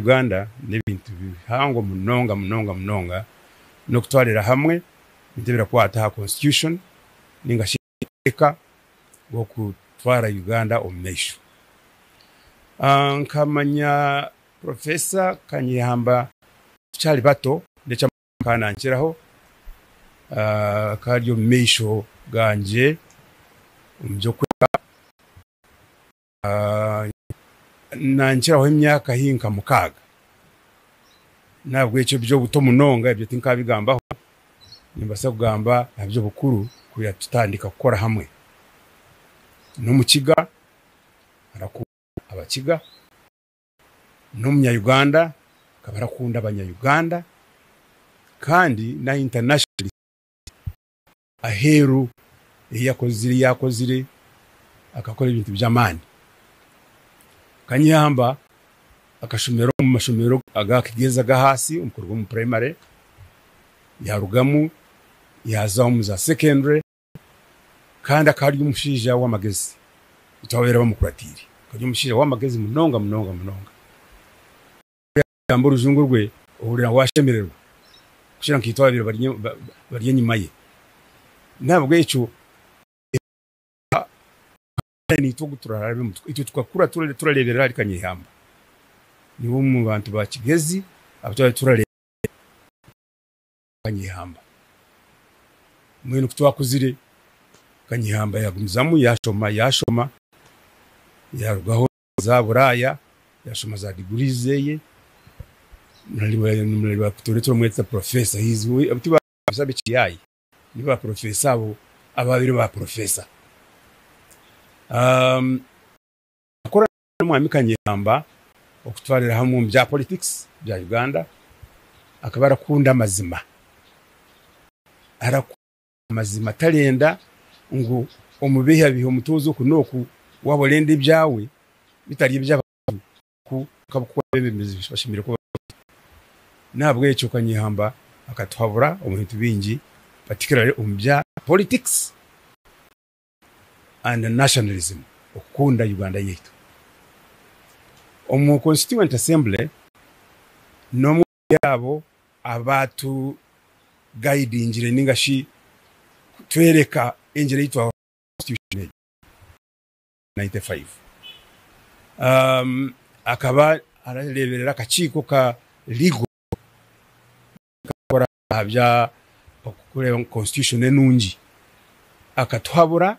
Uganda n'ebintu bihango munonga munonga munonga n'okutwarira hamwe ebintu ebirakwata aha Constitution ninga shi amateeka g'okutwara Uganda omu maisho. Nkamanya Professor Kanyehamba tukyari bato n'eki akaba nankiraho akaba ari omu maisho gangye omu by'okwega. Naankiraho emyaka haihi nka mukaaga. N'ahabw'ekyo eby'obuto munonga ebyo tinkaabigambaho. Nimbaasa kugamba aha by'obukuru kwonka tutandika kukora hamwe. N'Omukiga, arakunda Abakiga. N'Omunyayuganda, akaba arakunda Abanyayuganda. Kandi n'aha internationalist. Aheeru ei yakozire yaakozire akakora ebintu by'amaani. Kanyamba akashomera omu mashomero aga kigyenzi ag'ahansi omu kuruga omu puraimare, yaarugamu yaaza omu za sekendure kandi akaba ari omushaija w'amagezi eki abaabaire bamukuratiire. Akaba ari omushaija w'amagezi munonga munonga munonga. Kugamba orujungu rwe, ohurira waashemererwa kukira nkaitwe abaabaire bari bari enyima ye. N'ahabw'ekyo naitwe ogu turarabe mutwe. Itwe tukakura turareeberera ahari Kanyehamba. Niwe omu bantu ba Kigezi abu twabaire turareeberera Kanyehamba. Mbwenu ku twakuzire, Kanyehamba yaagumizamu yaashoma yaashoma yaarugaho za Buraaya, yashoma za degrees zeye, nimureba kutoora eki bamweta professor, he is abo ti ba professor b'ekiyaayi, ni ba professor abo abaabaire ba professor. Akora n'omwami Kanyehamba okutwarira hamwe omu bya politics bya Uganda, akaba arakunda amazima. Mazima tarenda ngu omubiheabihe omutoze oku n'oku, waba orenda ebyawe bitari eby'abantu nku oku abebembezi bashemereire kuba bari. N'ahabw'ekyo ka Nyehamba akatuhabura omu bintu bingi particularly omu bya politics and nationalism, okukunda Uganda yaitu. Omu Constituent Assembly n'omwe. Turi abo abaatugayidingire nainga shi kutworeka engira ei twahurira Constitution egyo Constitution akaba nareeberera akakiiko ka Legal akakora aha by'okureeba ngu Constitution enungi akatuhabura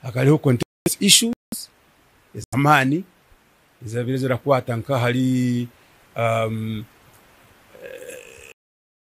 hakareeho health issues ez'amaani ezibaire zirakwata nk'ahari